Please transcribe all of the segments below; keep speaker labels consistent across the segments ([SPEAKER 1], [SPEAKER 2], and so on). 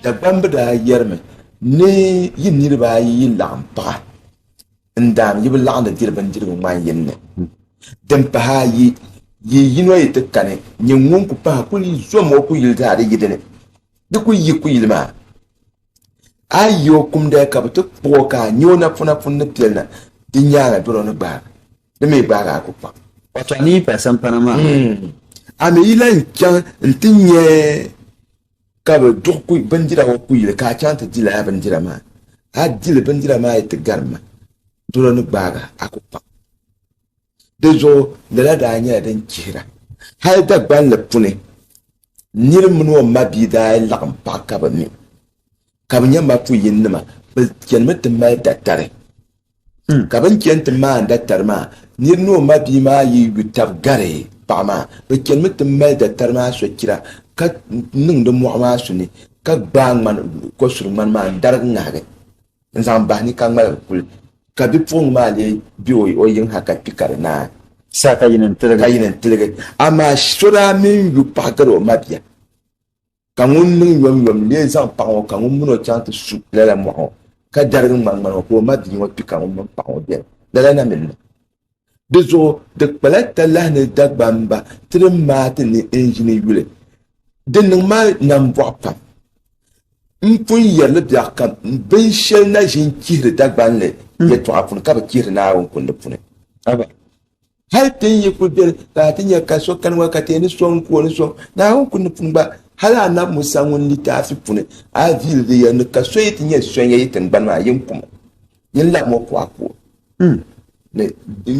[SPEAKER 1] Dagbamb daa yɛrimi ni yi niriba ayi yi laɣim paɣa n-daam yi bi laɣim di diri bindirigu ŋman yini ni. Din pahi ayi, yi yino yi ti kani nyin ŋun ku pahi kuli zom o kuyili zaa di yi dini, di ku yi kuyili maa. A yi yi o kumdaya ka bi ti kpuɣ o ka a nya o napɔna puuni ni piɛli na, di nyaaŋa dɔro ni gbaagi. Di mi gbaagi a ku kpaŋ. Wato a mi yi paai sampana maa ha. Hmm. A mi yi lan chaŋ nti nya ka bɛ duɣi bindira ŋɔ kuyili ka a chaŋ nti di lala bindira maa. A di li bindira maa yi ti gari ma, dɔro ni gbaagi a ku kpaŋ. Di zuɣu lala daa nyɛla din chihira. Hal Dagbanli puni nir mini o mabia daa laɣim pahi ka bɛ mi ka bɛ nya mapuyinima. Bɛ chanimi ti mali datari. Hmm. Ka bɛ ni chani ti maani datari maa, nir ni o mabia maa yi yu tab gari paɣ maa, bɛ chanimi ti mali datari maa sochira ka niŋdi mɔɣu maa suni ka gbaai ŋmani, kɔsuri ŋmani maa n-darigi ŋahigi. n zaŋ bahi ni ka ŋmaligi kuli ka bipuɣiŋ maa lee be o yiŋ ha ka kpi ka di naai sa ka yini n tiligi. Amaa so daa mini yu paɣ gari o mabia, ka ŋun niŋ yomyom lee zaŋ paɣ ŋɔ ka ŋun min o chaŋ ti su lala mɔɣu ŋɔ, ka darigi ŋmani ŋmani ŋɔ ka o mabia ŋɔ kpi ka ŋun min paɣ ŋɔ beni, lala na mi n-niŋ. Di zuɣu di kpala talahi ni Dagbamba ti ni maati ni n yini yuli. Di niŋ ma nambɔɣu pam. M pun yɛri li biɛɣ kam, binshɛli na ʒin chihiri Dagbanli hmm. yɛtɔɣa puuni ka bi chihiri Naawuni kundi puuni. Hal ti ni yi kul beni ka a ti nya ka so kani ŋɔ ka ti ni sɔŋ ka o ni sɔŋ Naawuni kundi puuni gba, hal anabi Musa ŋun litaafi puuni a viili di yɛli ni ka so yi ti nya sɔnya yi tiŋgbani maa, yin kum o. Yin lahi mo pɔɣa puuni ni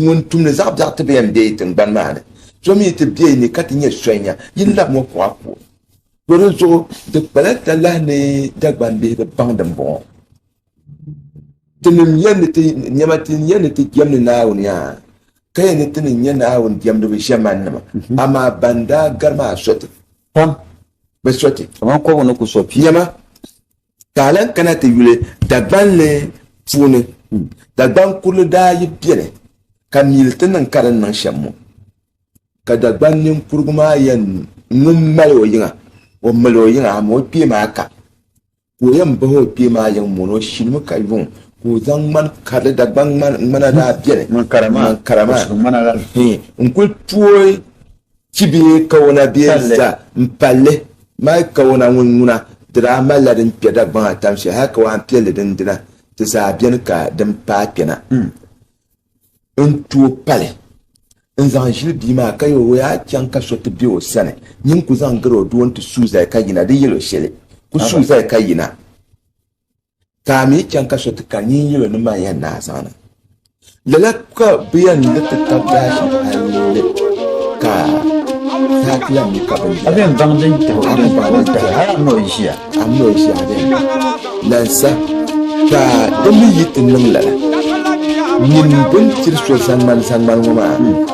[SPEAKER 1] ŋun tumdi zaɣ biɛɣu ti bɛn be tiŋgbani maa ni, so mi ti be ni ka ti nyɛ sonya, yin lahi mo pɔɣa puuni. So di zuɣu di kpala talahi ni Dagbaŋ bihi bi baŋ din bɔŋɔ. Tinim yɛn ni ti, nɛma ti yɛn ni ti jɛmdi Naawuni yaa, ka yɛn ni ti ni nyɛ Naawuni jɛmdiba ʒiɛmannima, amaa ban daa gari maa sɔti pam, bɛ sɔti. Kaman kɔbu ni ku so pia. Nɛma Ka a lan kana ti yuli Dagbanli puuni, Dagban kurili daa yi beni ka mili ti niŋ ka di ni niŋ shɛm ŋɔ, ka Dagban ninkurigu maa yɛn ŋun mali o yiŋa, o mali o yiŋa amaa o kpee maa ka, ka o yɛn bahi o kpee maa yiŋ mɔni, o shilimi ka yuŋ, ka o zaŋ ŋman karili, Dagban ŋmana daa beni, ŋman kara maa, n kuli tooi. Chi bɛ yi kawona bɛ yɛn za m-palli, mali kawona ŋun ŋuna di daa malila din kpɛ Dagbaŋ atam shɛli hal kawaan piɛlli din dina ti zaa beni ka din paai kpɛna. N tooi pali n-zaŋ ʒili bia maa ka yɛl o yaa chaŋ ka so ti be o sani. Nyin ku zaŋ gari o doo nti suui zali ka yina, di yɛl o shɛli, Ku suui zali ka yina. ka a mi chaŋ ka so ti kari nyin yilo ni man yɛn naa zaŋna. Lala ka bɛ yɛn ni ti tab daashi a yinli ka saa ti yɛn mi ka bɛ yɛn. A bɛn baŋ din tahi a bɛn baŋ din tahi a yɛn mi o ʒiya. A mi o ʒiya a bɛn lansa ka di mi yi ti niŋ lala. Nyin bɛn tiri so zaŋmani zaŋmani ŋɔ maa.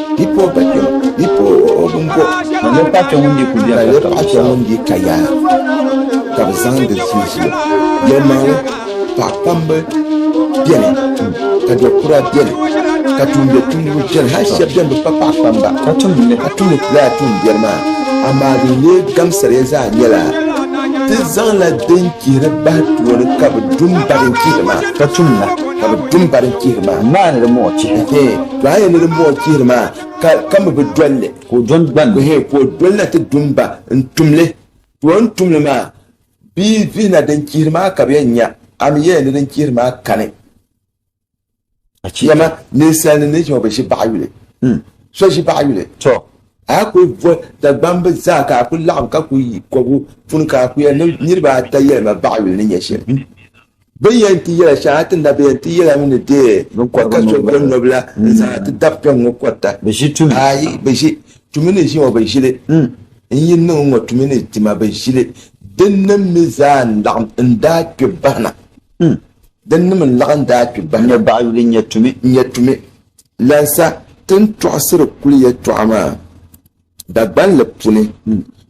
[SPEAKER 1] Di po ba kpɛm, di po bim bo. Ka yɛli paɣa kpɛm ŋun di ku biɛri ka kabi zuɣu. Ka bi zaŋ di zuli zuɣu. Yɛlimaŋli, paɣ'kpamba beni, ka do'kura beni, ka tumdi tumdiba beni, hali shɛba beni bi pa paɣ'kpamba, ka tumdi lala tuumbiɛri maa, amaa din lee gamsiriya zaa nyɛla ti zaŋla din chihiri bahi tooni ka bi dum ba din chihiri maa. Ka bi dum ba din chihiri maa. Maani di mɔɣu chihi. To a yɛn ni din buɣi chihiri maa, ka, ka mi bi dol li. Ka o dɔni gban. Ehe, ka o doli na ti dum ba n-tum li. Ti o ni tum li maa, bɛ yi vihi na din chihiri maa ka bɛ yɛn nya, a mi yɛya ni din chihiri maa kani. Dama ninsalnim ni ʒiɛma bi ʒi baɣa yuli. So ʒi baɣa yuli. To. A ku vo Dagbamb zaa ka a ku laɣim ka ku yi kɔbu puni ka a ku yɛli ni niriba ata yɛlima baɣa yuli ni nyɛ shɛm. Bɛ ni yɛn ti yɛla shɛŋa ti na bɛ yɛn ti yɛla mi ni deei ka ka so bɛ nɔbila n-zaŋ ti dab kpɛŋ ŋɔ kɔrita. Aai, bɛ ʒi tumi ni ʒi ŋɔ bɛ ʒi li, n yi niŋ n ŋɔ tumi ni ti ma bɛ ʒi li. Dinnim mi zaa n-laɣim n-daa kpe bahi na. Dinnim n-laɣim n-daa kpe bahi na. Nyɛ baɣa yuli nyɛ tumi. Nyɛ tumi. Lansa ti ni tɔɣisiri kuli yɛtɔɣa maa, Dagbanli puni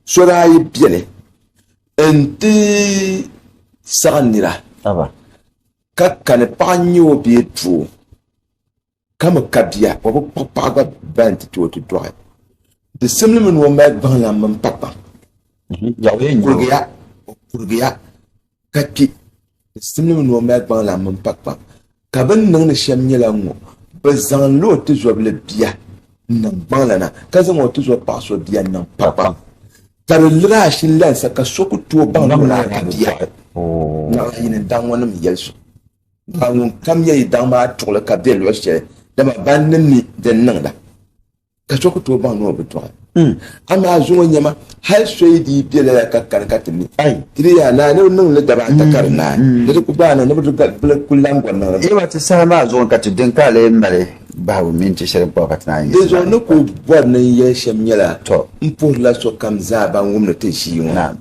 [SPEAKER 1] so daa yi beni N-ti saɣi nira ka kani paɣa n-nyɛ o bee doo ka mi ka bia o bi kpuɣi paɣa gba bɛn ti ti o ti dɔɣi di simli mi ni o mali gbaŋlam mini pakpaŋ mhm. kurigiya o kurigiya ka kpi Simlim ni o mali gbaŋlan mini pakpaŋ, ka bɛ ni niŋdi shɛm nyɛla n-ŋɔ, Bɛ zaŋla o tizɔbili bia n-niŋ gbaŋlana, ka zaŋ o tizɔb paɣ so bia n-niŋ pakpaŋ, ka di liri ashi lansa ka so ku tooi baŋ ni o daa ka bia. Naɣila yi ni daŋ ŋɔnim yɛli so, daa ŋunkam nyɛ yi daŋ maa tuɣili ka bɛ luɣ shɛli, dama ban ni mi din niŋda. ka so ku tooi baŋ ni o bi tɔɣi amaa zuŋɔ nyɛma hali soyi dii bɛ lala ka kani ka ti mi ti di yaa naa ni bi niŋ li daba ata ka di naai ni di ku baai niŋ ni bi di ku lan gɔri niŋ li ti saha maa zuŋɔ ka ti din ka lee mali bahigu mini ti shɛli kpabu ka ti naan yi di zuɣu ni ku bɔri ni n yɛli shɛm nyɛla n puhirila sokam zaa ban wumdi ti ʒii ŋɔ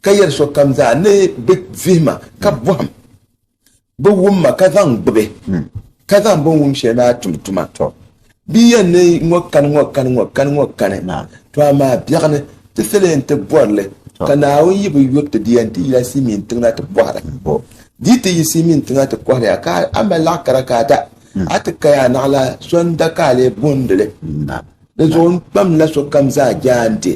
[SPEAKER 1] ka yɛri sokam zaa ni bi vihima ka bɔhim Bɛ wum ma ka zaŋ gbibi, ka zaŋ bɛ ni wum shɛli maa tum tuma. Bɛ yɛn ni ŋɔ kani ŋɔ kani ŋɔ kani ŋɔ kani, to amaa biɛɣu ni ti sal yɛn ti bɔri li, ka Naawuni yi bi yuri ti di yɛn ti yila Simiin tiŋ na ti bɔhira. Di yi ti yi Simiin tiŋ na ti kɔhiri ya ka a mali laɣ kara ka a da, a ti kaya a naɣila so n-da ka a lee booni li. Di zuɣu n kpamdila sokam zaa jaande.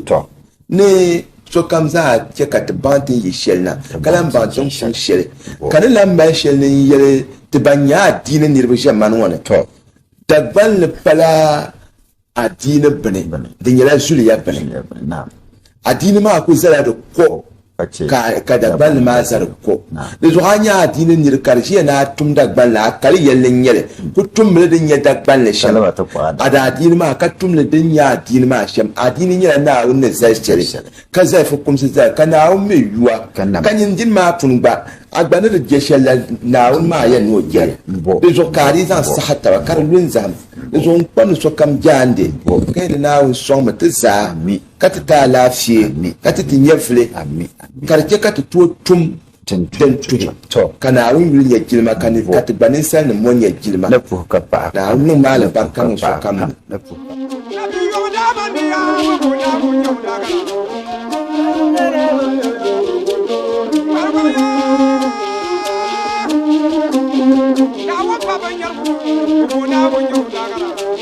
[SPEAKER 1] Ni sokam zaa chɛ ka ti baŋ ti ni yi shɛli na, ka lan baŋ ti ni kum shɛli, ka ni lan mali shɛli ni n yɛli ti ban nyɛ adiini niriba ʒɛmani ŋɔ ni, Dagbanli pala adiini bini, di nyɛla zuliya bini. Adiini maa ku zala di ko ka Dagbanli maa zaligi ko. Di zuɣu a nya adiini nir ka di ʒiya ni a tum Dagbanli a kali yɛlli n-nyɛ li, ku tum li din nyɛ Dagbanli shɛm, a daa adiini maa, ka tum li din nyɛ adiini maa shɛm. A adiini nyɛla Naawuni ni zali shɛli, ka zali fukumsi zali, ka Naawuni mi yuwa, ka nyin din maa pun gba, a gba ni di je shɛli la, Naawuni maa yɛn ni o je li. Di zuɣu ka a dii zaŋ saha taba ka di lu n zahim. Di zuɣu n kpa ni sokam jaande, ka yɛli, Naawuni sɔŋ mi ti zaa. ka ti ti alaafee, ka ti ti nyɛvili, ka di chɛ ka ti tooi tum din tuhi ka Naawuni yuli nyɛ jilima ka ni ka ti gba ninsalinim ŋɔ nyɛ jilima. Naawuni niŋ ma alibarika niŋ sokam ni.